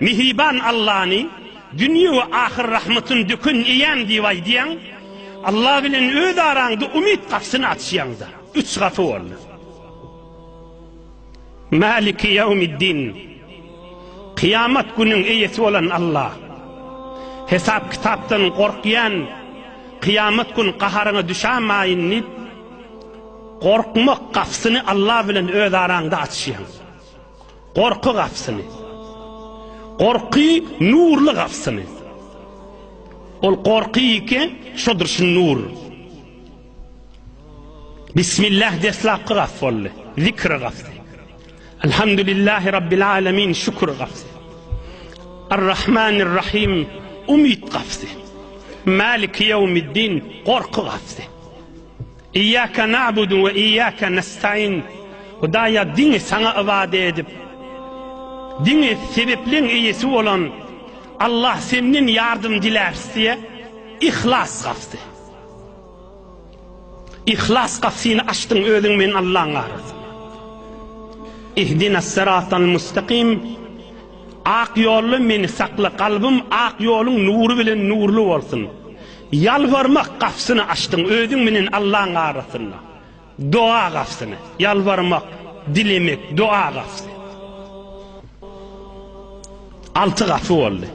Mihriban Allany dünýe we ahyr rahmatyny döken eýäm diýip aýdýaň. Alla bilen öz araňda umyt gapysyny açýaň-da. Üç gapy boldy. Maliki ýawmiddin, kyýamat günüň eýesi bolan Alla. Hesap-kitapdan gorkýan, kyýamat gün gaharyňa düşämaýyn diýip, gorkmak gapysyny Alla bilen öz araňda açýaň. Gorky gapysyny. Gorky nurly gapysyny. Ol gorky ýeke şodur şu nur. Bismillah deslapky gap boldy. Zikr gapysy. Elhamdülillahi Rabbil alemin şükür gapysy. Ar-Rahmanir Rahim umyt gapysy. Maliki yevmiddin gorky gapysy. Iyýake na'budu we iyýake nestaîn Hudaýa diňe Saňa ybadat edip, diňe sebepleň eýesi bolan Allah Senden ýardym diläris diýe Yhlas gapysy. Yhlas gapysyny açdyň özüň men Allaň arasynda. Ihdinas sıratal mustaqim Ak ýolda meni sakla, kalbym ak ýoluň nury bilen nurly bolsun. Ýalbarmak gapysyny açdyň özüň menen Allaň arasynda. Doga gapysyny. Ýalbarmak, dilemek, doga gapysy. Alty gapy boldy.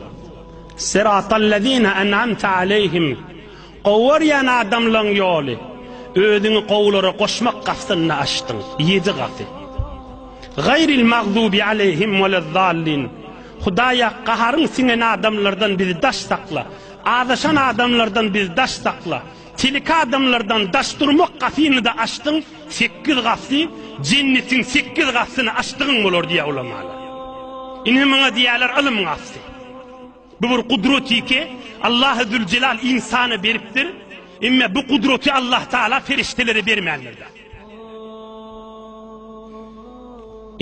Syratallezine en'amte aleyhim. Gowarýan adamlaň ýoly. Özüňi gowulara goşmak gapysyny açdyň. Ýedi gapy. Gaýril magdubi aleyhim welezzallin. Hudaýa gaharyň siňen adamlardan bizi daş sakla. Azaşan adamlardan biz daş sakla. Tiliki adamlardan daş durmak gatyny-da açdyň, sekiz gaty, jennetiň sekiz gatyny açdygyň bolar diýýär ulamalar. Ine muňa diýýärler ylym gaty. Bu bir gudratike, Allahy Züljelal ynsana beripdir. Emme bu gudraty Allah Taala perişdelere bermändir.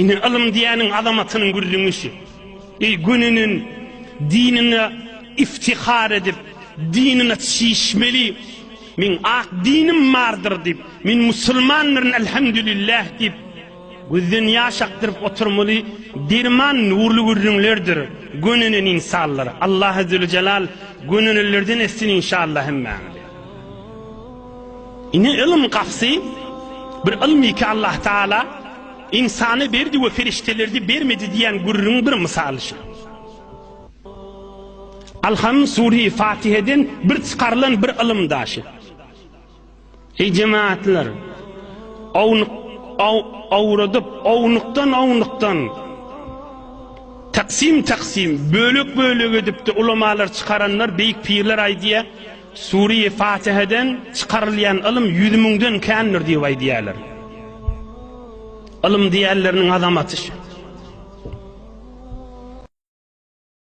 Indi ylym diýäniň azamatynyň gürrüňişi. Eý gününin diniňe iftihar edip, diniňe çişmeli. Meň ak dinim bardyr diýip, men musulmandyryn Elhamdülillah diýip, gözden ýaş akdyryp oturmaly derman nurly gürrüňlerdir gönünen insanlar. Allah Azzewejelal gönünelerden etsin inşallah hemmäňizi. Ine ylym gapysy, bir ylmy ki Allah Taala ynsana berdi we feriştelerde bermedi diýen gürrüň bir mysaly şu. Alham Suri Fatiheden bir çykarylan bir ylym daşy. Eý jemaatlar, ownuk awradyp, ownukdan ownukdan taksim taksim, bölek bölek edip de ulamalar çykaranlar, beýik pirler aýdýar, Sure-i Fatiheden çykarylýan ylym ýüz müňden kändir diýip aýdýarlar. Ylym diýýänleriniň azamaty şu.